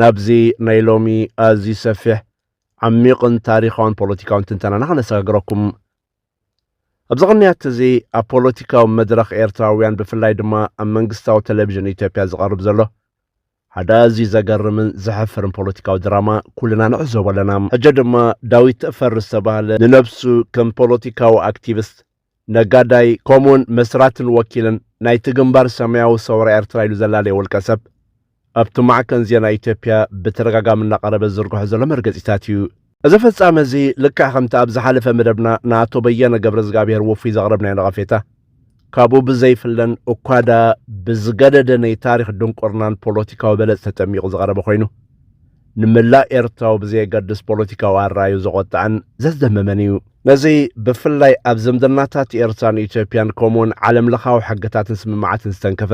ናብዚ ናይ ሎሚ ኣዝዩ ሰፊሕ፣ ዓሚቕን ታሪኻውን ፖለቲካውን ትንተናና ከነሰጋግረኩም። ኣብዚ ቅንያት'ዚ ኣብ ፖለቲካዊ መድረኽ ኤርትራውያን ብፍላይ ድማ ኣብ መንግስታዊ ተለቪዥን ኢትዮጵያ ዝቐርብ ዘሎ ሓደ ኣዝዩ ዘገርምን ዘሕፍርን ፖለቲካዊ ድራማ ኩልና ንዕዘቦ ኣለና። ሕጂ ድማ ዳዊት ተፈሪ ዝተባህለ ንነብሱ ከም ፖለቲካዊ ኣክቲቭስት ነጋዳይ ከምኡውን መስራትን ወኪልን ናይቲ ግንባር ሰማያዊ ሰውራ ኤርትራ ኢሉ ዘላለየ ውልቀ ሰብ ኣብቲ ማዕከን ዜና ኢትዮጵያ ብተደጋጋሚ እናቐረበ ዝዝርግሖ ዘሎ መርገጺታት እዩ። እዚ ፍጻመ እዚ ልክዕ ከምቲ ኣብ ዝሓለፈ መደብና ንኣቶ በየነ ገብረዝግኣብሄር ውፉይ ዘቕረብናዮ ነቐፌታ ካብኡ ብዘይፍለን እኳ ድኣ ብዝገደደ ናይ ታሪኽ ድንቁርናን ፖለቲካዊ በለጽ ተጠሚቑ ዝቐረበ ኮይኑ ንመላእ ኤርትራዊ ብዘየገድስ ፖለቲካዊ ኣራዩ ዘቖጠዐን ዘስደመመን እዩ። ነዚ ብፍላይ ኣብ ዝምድናታት ኤርትራን ኢትዮጵያን ከምኡውን ዓለም ለኻዊ ሕግታትን ስምምዓትን ዝተንከፈ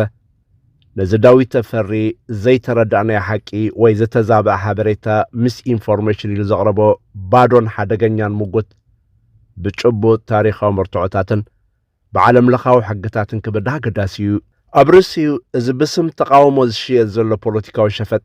ነዚ ዳዊት ተፈሪ ዘይተረዳእናዮ ሓቂ ወይ ዝተዛበዐ ሓበሬታ ምስ ኢንፎርሜሽን ኢሉ ዘቕረቦ ባዶን ሓደገኛን ምጉት ብጭቡጥ ታሪኻዊ መርትዖታትን ብዓለም ለኻዊ ሕግታትን ክብዳ ኣገዳሲ እዩ። ኣብ ርእሲኡ እዚ ብስም ተቓውሞ ዝሽየጥ ዘሎ ፖለቲካዊ ሸፈጥ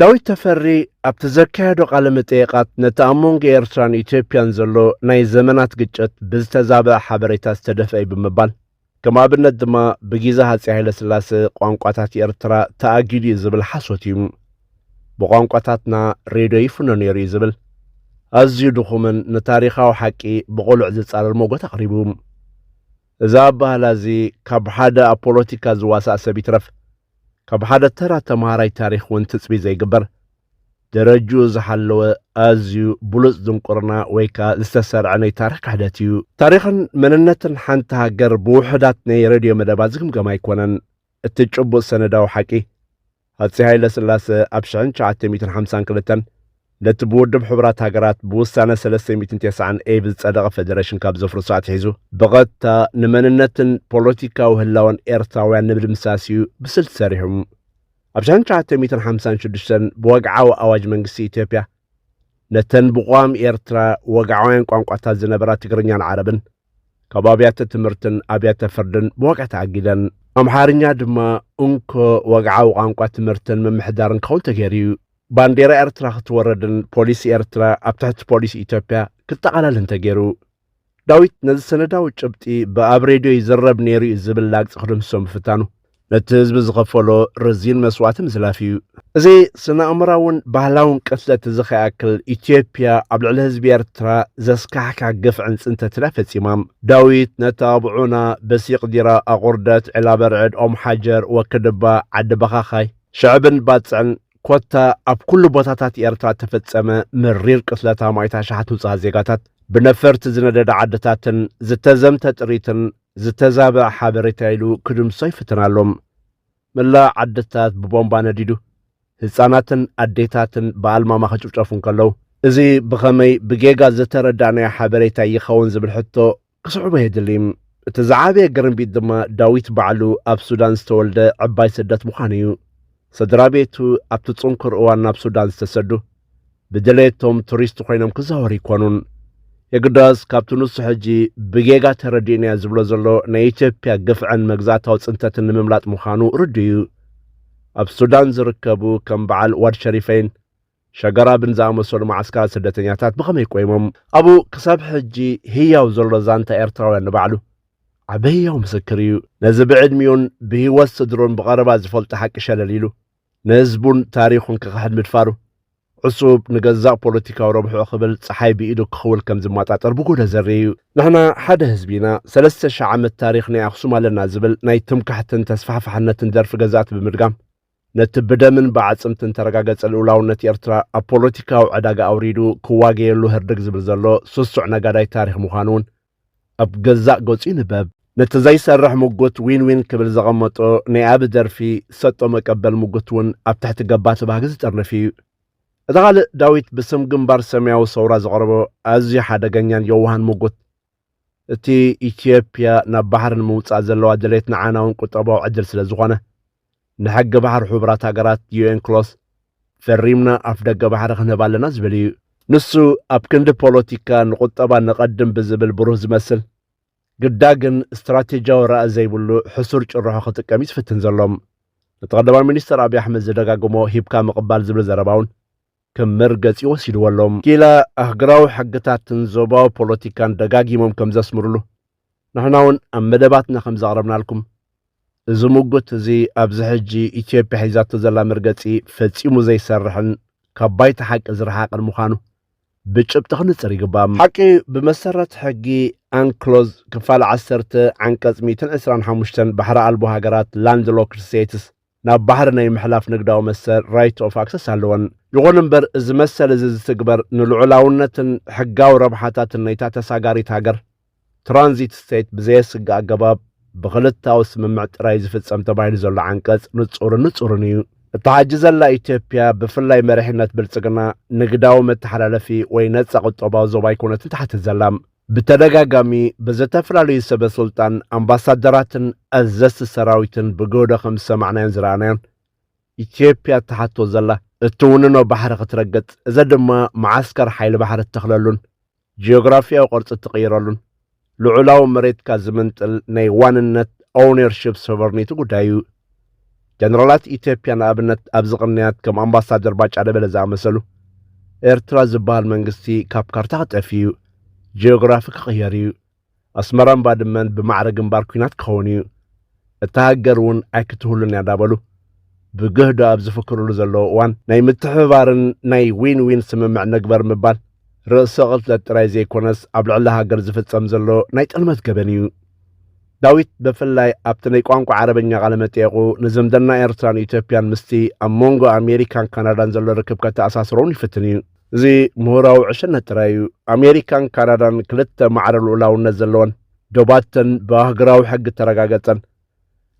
ዳዊት ተፈሪ ኣብቲ ዘካየዶ ቃለ መጠየቓት ነቲ ኣብ መንጎ ኤርትራን ኢትዮጵያን ዘሎ ናይ ዘመናት ግጭት ብዝተዛበዐ ሓበሬታ ዝተደፍአ እዩ ብምባል ከም ኣብነት ድማ ብጊዘ ሃጺ ሃይለስላሰ ቋንቋታት ኤርትራ ተኣጊዱ እዩ ዝብል ሓሶት እዩ ብቋንቋታትና ሬድዮ ይፍኖ ነይሩ እዩ ዝብል ኣዝዩ ድኹምን ንታሪኻዊ ሓቂ ብቕሉዕ ዝጻረር ሞጎት ኣቕሪቡ እዚ ኣባህላ እዚ ካብ ሓደ ኣብ ፖለቲካ ዝዋሳእ ሰብ ይትረፍ ካብ ሓደ ተራ ተምሃራይ ታሪኽ እውን ትጽቢ ዘይግበር ደረጅኡ ዝሓለወ ኣዝዩ ብሉጽ ድንቁርና ወይ ከኣ ዝተሰርዐ ናይ ታሪኽ ክሕደት እዩ። ታሪኽን መንነትን ሓንቲ ሃገር ብውሑዳት ናይ ሬድዮ መደባት ዝግምገም ኣይኮነን። እቲ ጭቡጥ ሰነዳዊ ሓቂ ሃጺ ሃይለ ስላሰ ኣብ 1952 ነቲ ብውድብ ሕቡራት ሃገራት ብውሳነ 390 ኤብ ዝጸደቐ ፈደረሽን ካብ ዘፍርሱ ኣትሒዙ ብቐጥታ ንመንነትን ፖለቲካዊ ህላወን ኤርትራውያን ንምድምሳስ እዩ ብስልቲ ሰሪሑ። ኣብ 1956 ብወግዓዊ ኣዋጅ መንግስቲ ኢትዮጵያ ነተን ብቋም ኤርትራ ወግዓውያን ቋንቋታት ዝነበራ ትግርኛን ዓረብን ካብ ኣብያተ ትምህርትን ኣብያተ ፍርድን ብወግዒ ተኣጊደን ኣምሓርኛ ድማ እንኮ ወግዓዊ ቋንቋ ትምህርትን ምምሕዳርን ክኸውን ተገይሩ እዩ። ባንዴራ ኤርትራ ክትወረድን ፖሊስ ኤርትራ ኣብ ትሕቲ ፖሊስ ኢትዮጵያ ክጠቓለልን ተገይሩ። ዳዊት ነዚ ሰነዳዊ ጭብጢ ብኣብ ሬድዮ ይዝረብ ነይሩ እዩ ዝብል ላግጺ ክድምስሶ ምፍታኑ ነቲ ህዝቢ ዝኸፈሎ ረዚን መስዋእቲ ምዝላፍ እዩ። እዚ ስነ ኣእምራውን ባህላውን ቅትለት እዚ ከይኣክል ኢትዮጵያ ኣብ ልዕሊ ህዝቢ ኤርትራ ዘስካሕካ ግፍዕን ጽንተትን እያ ፈጺማም። ዳዊት ነቲ ኣብዑና፣ በሲቅ ዲራ፣ ኣቑርደት፣ ዒላበርዕድ፣ ኦም ሓጀር፣ ወክድባ፣ ዓዲ በኻኻይ፣ ሽዕብን ባጽዕን ኮታ ኣብ ኩሉ ቦታታት ኤርትራ እተፈጸመ መሪር ቅትለት ኣማኢት ኣሽሓት ንጹሃት ዜጋታት፣ ብነፈርቲ ዝነደደ ዓድታትን ዝተዘምተ ጥሪትን ዝተዛበዐ ሓበሬታ ኢሉ ክድምሶ ይፍትን ኣሎ። መላእ ዓድታት ብቦምባ ነዲዱ፣ ህጻናትን ኣዴታትን ብኣልማማ ክጭፍጨፉ እንከለዉ፣ እዚ ብኸመይ ብጌጋ ዝተረዳእናዮ ሓበሬታ ይኸውን ዝብል ሕቶ ክስዕቦ የድሊ። እቲ ዝዓበየ ግርምቢጥ ድማ ዳዊት ባዕሉ ኣብ ሱዳን ዝተወልደ ዕባይ ስደት ምዃኑ እዩ። ስድራ ቤቱ ኣብቲ ጽንኩር እዋን ናብ ሱዳን ዝተሰዱ ብድሌቶም ቱሪስት ኮይኖም ክዛወሩ ኣይኮኑን። የግዳስ ካብቲ ንሱ ሕጂ ብጌጋ ተረዲኡኒያ ዝብሎ ዘሎ ናይ ኢትዮጵያ ግፍዕን መግዛእታዊ ጽንተትን ንምምላጥ ምዃኑ ርዱእ እዩ። ኣብ ሱዳን ዝርከቡ ከም በዓል ዋድ ሸሪፈይን ሸጋራብን ዝኣመሰሉ መዓስከራት ስደተኛታት ብኸመይ ቆይሞም? ኣብኡ ክሳብ ሕጂ ህያው ዘሎ ዛንታ ኤርትራውያን ንባዕሉ ዓቢ ህያው ምስክር እዩ። ነዚ ብዕድሚኡን ብህይወት ስድርኡን ብቐረባ ዝፈልጦ ሓቂ ሸለል ኢሉ፣ ንህዝቡን ታሪኹን ክኽሕድ ምድፋሩ፣ ዕሱብ ንገዛእ ፖለቲካዊ ረብሕኡ ክብል ጸሓይ ብኢዱ ክኽውል ከም ዝመጣጠር ብጎዶ ዘርኢ እዩ። ንሕና ሓደ ህዝቢ ኢና፣ ሰለስተ ሽሕ ዓመት ታሪኽ ናይ ኣኽሱም ኣለና ዝብል ናይ ትምክሕትን ተስፋሕፋሕነትን ደርፊ ገዛእቲ ብምድጋም፣ ነቲ ብደምን ብኣዕጽምትን ተረጋገጸ ልኡላውነት ኤርትራ ኣብ ፖለቲካዊ ዕዳጋ ኣውሪዱ ክዋገየሉ ህርድግ ዝብል ዘሎ ስሱዕ ነጋዳይ ታሪኽ ምዃኑውን ኣብ ገዛእ ገጹ ይንበብ። ነቲ ዘይሰርሕ ምጉት ዊን ዊን ክብል ዘቐመጦ ናይ ኣቢ ደርፊ ሰጦ መቀበል ምጉትውን ኣብ ትሕቲ ገባቲ ባህጊ ዝጥርንፍ ኢዩ። እቲ ካልእ ዳዊት ብስም ግንባር ሰማያዊ ሰውራ ዘቕረቦ ኣዝዩ ሓደገኛን የዋህን ምጉት እቲ ኢትዮጵያ ናብ ባሕሪ ንምውጻእ ዘለዋ ድሌት ንዓና እውን ቁጠባዊ ዕድል ስለ ዝኾነ ንሕጊ ባሕሪ ሕቡራት ሃገራት ዩኤን ክሎስ ፈሪምና ኣፍደገ ባሕሪ ክንህብ ኣለና ዝብል እዩ። ንሱ ኣብ ክንዲ ፖለቲካ ንቁጠባ ነቐድም ብዝብል ብሩህ ዝመስል ግዳ ግን ስትራቴጂያዊ ራኢ ዘይብሉ ሕሱር ጭርሖ ክጥቀም እዩ ዝፍትን ዘሎ። ነቲ ቀዳማይ ሚኒስተር ኣብይ ኣሕመድ ዝደጋግሞ ሂብካ ምቕባል ዝብል ዘረባ እውን ከም መርገጺ ወሲድዎ ኣሎ። ኪላ ኣህግራዊ ሕግታትን ዞባዊ ፖለቲካን ደጋጊሞም ከም ዘስምሩሉ፣ ንሕናውን ኣብ መደባትና ከም ዘቕረብናልኩም፣ እዚ ምጉት እዚ ኣብዚ ሕጂ ኢትዮጵያ ሒዛቶ ዘላ መርገጺ ፈጺሙ ዘይሰርሕን ካብ ባይታ ሓቂ ዝረሓቐን ምዃኑ ብጭብጢ ክንጽር ይግባእ። ሓቂ ብመሰረት ሕጊ ኣንክሎዝ ክፋል ዓሰርተ ዓንቀጽ ሚእትን ዕስራን ሓሙሽተን ባሕሪ ኣልቦ ሃገራት፣ Landlocked States፣ ናብ ባሕሪ ናይ ምሕላፍ ንግዳዊ መሰል፣ Right of Access፣ ኣለወን። ይኹን እምበር እዚ መሰል እዚ ዝትግበር ንልዑላውነትን ሕጋዊ ረብሓታትን ናይታ ተሳጋሪት ሃገር፣ Transit State፣ ብዘየስግእ ኣገባብ ብክልተኣዊ ስምምዕ ጥራይ እዩ ዝፍጸም ተባሂሉ ዘሎ ዓንቀጽ ንጹርን ንጹርን እዩ። እታ ሕጂ ዘላ ኢትዮጵያ ብፍላይ መሪሕነት ብልጽግና ንግዳዊ መተሓላለፊ ወይ ነጻ ቁጠባዊ ዞባ ኣይኮነትን ትሓትት ዘላ። ብተደጋጋሚ ብዘተፈላለዩ ሰበ ስልጣን፣ ኣምባሳደራትን ኣዘዝቲ ሰራዊትን ብገህዶ ከም ዝሰማዕናዮን ዝረኣናዮን፣ ኢትዮጵያ እትሓቶ ዘላ እትውንኖ ባሕሪ ክትረግጽ፣ እዚ ድማ መዓስከር ሓይሊ ባሕሪ እትተኽለሉን ጂኦግራፊያዊ ቅርጺ እትቕይረሉን ልዑላዊ መሬትካ ዝምንጥል ናይ ዋንነት፣ Ownership Sovereignty፣ ጉዳይ እዩ። ጀነራላት ኢትዮጵያ ንኣብነት ኣብዚ ቅንያት ከም ኣምባሳደር ባጫ ደበለ ዝኣመሰሉ ኤርትራ ዝበሃል መንግስቲ ካብ ካርታ ክጠፍዩ ጂኦግራፊ ክቕየር እዩ ኣስመራን ባድመን ብማዕረ ግንባር ኩናት ክኸውን እዩ እታ ሃገር እውን ኣይክትህሉን እያ እንዳበሉ ብግህዶ ኣብ ዝፍክርሉ ዘለዎ እዋን ናይ ምትሕብባርን ናይ ዊን ዊን ስምምዕ ንግበር ምባል ርእሰ ቅትለት ጥራይ ዘይኮነስ ኣብ ልዕሊ ሃገር ዝፍጸም ዘሎ ናይ ጥልመት ገበን እዩ ዳዊት በፍላይ ኣብቲ ናይ ቋንቋ ዓረበኛ ቃለ መጠየቁ ንዝምድና ኤርትራን ኢትዮጵያን ምስቲ ኣብ ሞንጎ ኣሜሪካን ካናዳን ዘሎ ርክብ ከተኣሳስሮውን ይፍትን እዩ። እዚ ምሁራዊ ዕሽነት ጥራይ እዩ። ኣሜሪካን ካናዳን ክልተ ማዕረ ልኡላውነት ዘለወን ዶባተን ብኣህግራዊ ሕጊ እተረጋገጸን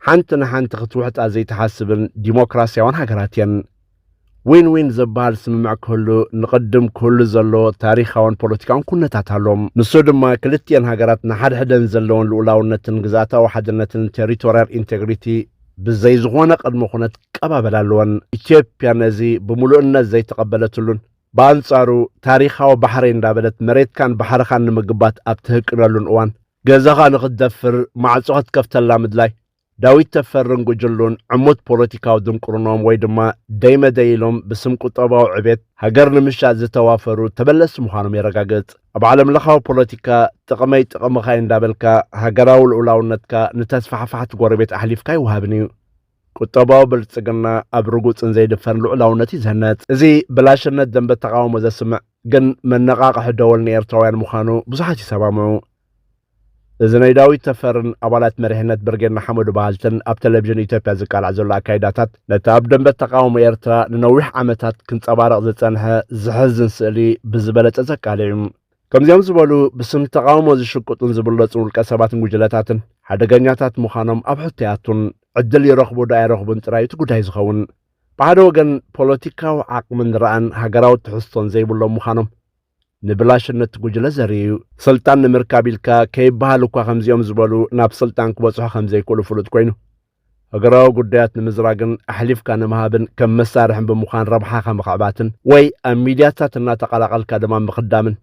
ሓንቲ ንሓንቲ ክትውሕጣ ዘይትሓስብን ዲሞክራስያዋን ሃገራት እየን። ዊን ዊን ዘበሃል ስምምዕ ክህሉ ንቕድም ክህሉ ዘለዎ ታሪኻውን ፖለቲካውን ኩነታት ኣሎ። ንሱ ድማ ክልቲኤን ሃገራት ንሓድሕደን ዘለወን ልኡላውነትን ግዝኣታዊ ሓድነትን፣ ቴሪቶርያል ኢንቴግሪቲ፣ ብዘይ ዝኾነ ቅድመ ኩነት ክቀባበላ ኣለወን። ኢትዮጵያ ነዚ ብምሉእነት ዘይተቐበለትሉን ብኣንጻሩ ታሪኻዊ ባሕረይ እንዳበለት መሬትካን ባሕርኻን ንምግባት ኣብ ትህቅነሉን እዋን ገዛኻ ንኽትደፍር ማዕጾ ክትከፍተላ ምድላይ ዳዊት ተፈርን ጉጅሉን ዕሙት ፖለቲካዊ ድንቁርንኦም ወይ ድማ ደይ መደይ ኢሎም ብስም ቁጠባዊ ዕቤት ሃገር ንምሻጥ ዝተዋፈሩ ተበለስቲ ምዃኖም የረጋግጽ። ኣብ ዓለም ለኻዊ ፖለቲካ ጥቕመይ ጥቕምኻይ እንዳበልካ ሃገራዊ ልኡላውነትካ ንተስፋሕፋሕቲ ጎረቤት ኣሕሊፍካ ኣይወሃብን እዩ። ቁጠባዊ ብልጽግና ኣብ ርጉጽን ዘይድፈርን ልኡላውነት እዩ ዝህነጽ። እዚ ብላሽነት ደንበ ተቓውሞ ዘስምዕ ግን መነቓቕሒ ደወል ንኤርትራውያን ምዃኑ ብዙሓት ይሰማምዑ። እዚ ናይ ዳዊት ተፈርን ኣባላት መሪሕነት ብርጌድ ንሓመዱ በሃልትን ኣብ ተለቪዥን ኢትዮጵያ ዝቃላዕ ዘሎ ኣካይዳታት ነቲ ኣብ ደምበ ተቓውሞ ኤርትራ ንነዊሕ ዓመታት ክንጸባረቕ ዝጸንሐ ዘሕዝን ስእሊ ብዝበለጸ ዘቃልዕ እዩ። ከምዚኦም ዝበሉ ብስም ተቓውሞ ዝሽቅጡን ዝብለጹን ውልቀሰባትን ጉጅለታትን ሓደገኛታት ምዃኖም ኣብ ሕቶ ኣይኣቱን። ዕድል ይረኽቡ'ዶ ኣይረኽቡን ጥራይ እዩ እቲ ጉዳይ ዝኸውን። ብሓደ ወገን ፖለቲካዊ ዓቕምን ራእን ሃገራዊ ትሕዝቶን ዘይብሎም ምዃኖም፣ ንብላሽነት ጉጅለ ዘርኢ እዩ። ስልጣን ንምርካብ ኢልካ ከይበሃል እኳ ከምዚኦም ዝበሉ ናብ ስልጣን ክበጽሑ ከምዘይክእሉ ፍሉጥ ኮይኑ፣ ሃገራዊ ጉዳያት ንምዝራግን ኣሕሊፍካ ንምሃብን ከም መሳርሕን ብምዃን ረብሓኻ ምኽዕባትን ወይ ኣብ ሚድያታት እናተቐላቐልካ ድማ ምኽዳምን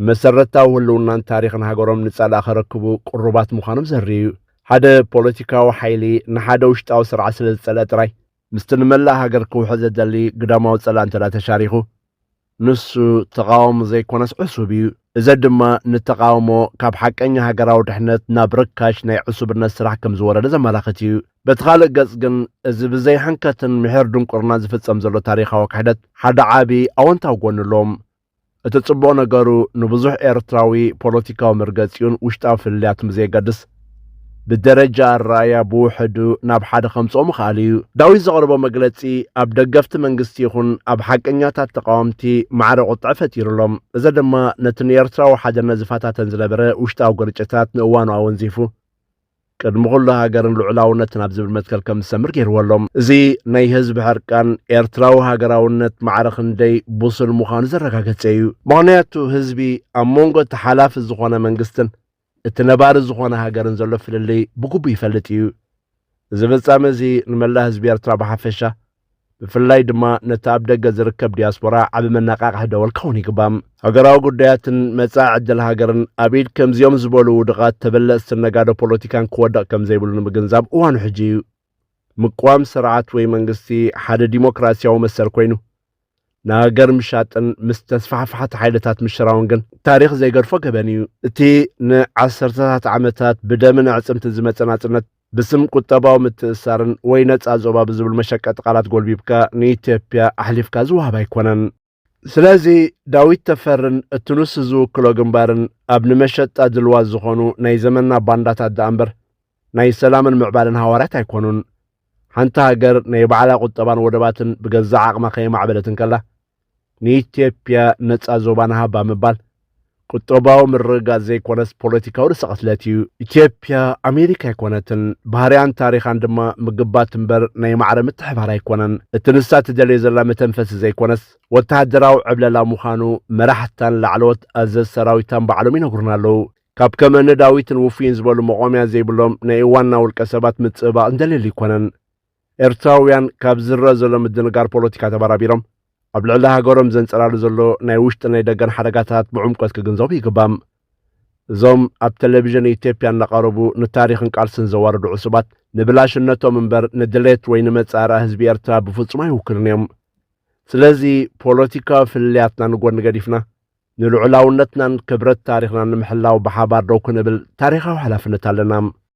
ንመሰረታዊ ህልውናን ታሪኽን ሃገሮም ንጸላእ ከረክቡ ቅሩባት ምዃኖም ዘርኢ እዩ። ሓደ ፖለቲካዊ ሓይሊ ንሓደ ውሽጣዊ ስርዓት ስለዝጸልኣ ጥራይ ምስቲ ንመላእ ሃገር ክውሕዝ ዝደሊ ግዳማዊ ጸላእ እንተድኣ ተሻሪኹ፣ ንሱ ተቓዋሚ ዘይኮነስ ዕሱብ እዩ። እዚ ድማ ንተቓውሞ ካብ ሓቀኛ ሃገራዊ ድሕነት ናብ ርካሽ ናይ ዕሱብነት ስራሕ ከም ዝወረደ ዘመላኽት እዩ። በቲ ካልእ ገጽ ግን እዚ ብዘይሕንከትን ምሒር ድንቁርናን ዝፍጸም ዘሎ ታሪኻዊ ክሕደት ሓደ ዓቢ ኣወንታዊ ጎኒ ኣሎ። እቲ ጽቡቕ ነገሩ ንብዙሕ ኤርትራዊ ፖለቲካዊ መርገጺኡን ውሽጣዊ ፍልልያቱን ብዘየገድስ ብደረጃ ኣረኣእያ ብውሕዱ ናብ ሓደ ከምጽኦ ምኽኣል እዩ። ዳዊት ዘቕረቦ መግለጺ ኣብ ደገፍቲ መንግስቲ ይኹን ኣብ ሓቀኛታት ተቓወምቲ ማዕረ ቁጥዐ ፈጢሩ ኣሎ። እዚ ድማ ነቲ ንኤርትራዊ ሓድነት ዝፈታተን ዝነበረ ውሽጣዊ ግርጭታት ንእዋኑ ኣወንዚፉ፣ ቅድሚ ኩሉ ሃገርን ልዑላውነትን ኣብ ዝብል መትከል ከም ዝሰምር ገይርዎ ኣሎ። እዚ ናይ ህዝቢ ሕርቃን ኤርትራዊ ሃገራውነት ማዕረ ክንደይ ብሱል ምዃኑ ዘረጋገጸ እዩ። ምኽንያቱ ህዝቢ ኣብ መንጎ እቲ ሓላፊ ዝኾነ መንግስትን እቲ ነባሪ ዝኾነ ሃገርን ዘሎ ፍልልይ ብግቡእ ይፈልጥ እዩ። እዚ ፍጻመ እዚ ንመላእ ህዝቢ ኤርትራ ብሓፈሻ ብፍላይ ድማ ነቲ ኣብ ደገ ዝርከብ ዲያስፖራ ዓቢ መነቓቕሒ ደወል ክኸውን ይግባእ። ሃገራዊ ጉዳያትን መጻኢ ዕድል ሃገርን ኣብ ኢድ ከምዚኦም ዝበሉ ውዱቓት ተበለጽትን ነጋዶ ፖለቲካን ክወድቕ ከም ዘይብሉ ንምግንዛብ እዋኑ ሕጂ እዩ። ምቅዋም ስርዓት ወይ መንግስቲ ሓደ ዲሞክራሲያዊ መሰል ኮይኑ፣ ንሃገር ምሻጥን ምስ ተስፋሕፋሕቲ ሓይልታት ምሽራውን ግን ታሪኽ ዘይገድፎ ገበን እዩ። እቲ ንዓሰርተታት ዓመታት ብደምን ኣዕጽምትን ዝመጸ ናጽነት፣ ብስም ቁጠባዊ ምትእስሳርን ወይ ነፃ ዞባ ብዝብሉ መሸቀጢ ቃላት ጎልቢብካ ንኢትዮጵያ ኣሕሊፍካ ዝወሃብ ኣይኮነን። ስለዚ ዳዊት ተፈርን እቲ ንሱ ዝውክሎ ግንባርን ኣብ ንመሸጣ ድልዋት ዝኾኑ ናይ ዘመንና ባንዳታት ደኣ እምበር ናይ ሰላምን ምዕባለን ሃዋርያት ኣይኮኑን። ሓንቲ ሃገር ናይ ባዕላ ቁጠባን ወደባትን ብገዛእ ዓቕማ ከየማዕበለት እንከላ ንኢትዮጵያ ነጻ ዞባ ንሃባ ምባል ቁጠባዊ ምርግጋጽ ዘይኮነስ ፖለቲካዊ ርሰቐትለት እዩ። ኢትዮጵያ ኣሜሪካ ኣይኮነትን፣ ባህርያን ታሪኻን ድማ ምግባት እምበር ናይ ማዕረ ምትሕባር ኣይኮነን። እቲ ንሳ ትደልዮ ዘላ መተንፈሲ ዘይኮነስ ወተሃደራዊ ዕብለላ ምዃኑ መራሕታን ላዕለዎት ኣዘዝ ሰራዊታን ባዕሎም ይነግሩና ኣለዉ። ካብ ከም እኒ ዳዊትን ውፉይን ዝበሉ መቖሚያ ዘይብሎም ናይ እዋንና ውልቀ ሰባት ምጽብባቕ ዝደልየሉ ኣይኮነን። ኤርትራውያን ካብ ዝረኣ ዘሎ ምድንጋር ፖለቲካ ተበራቢሮም ኣብ ልዕሊ ሃገሮም ዘንጸላሉ ዘሎ ናይ ውሽጥን ናይ ደገን ሓደጋታት ብዕምቆት ክግንዘቡ ይግባእ። እዞም ኣብ ተለቪዥን ኢትዮጵያ እናቐረቡ ንታሪኽን ቃልስን ዘዋርዱ ዕሱባት ንብላሽነቶም እምበር ንድሌት ወይ ንመጻእርኣ ህዝቢ ኤርትራ ብፍጹም ኣይውክሉን እዮም። ስለዚ ፖለቲካዊ ፍልልያትና ንጎኒ ገዲፍና ንልዑላውነትናን ክብረት ታሪኽናን ንምሕላው ብሓባር ደው ክንብል ታሪኻዊ ሓላፍነት ኣለና።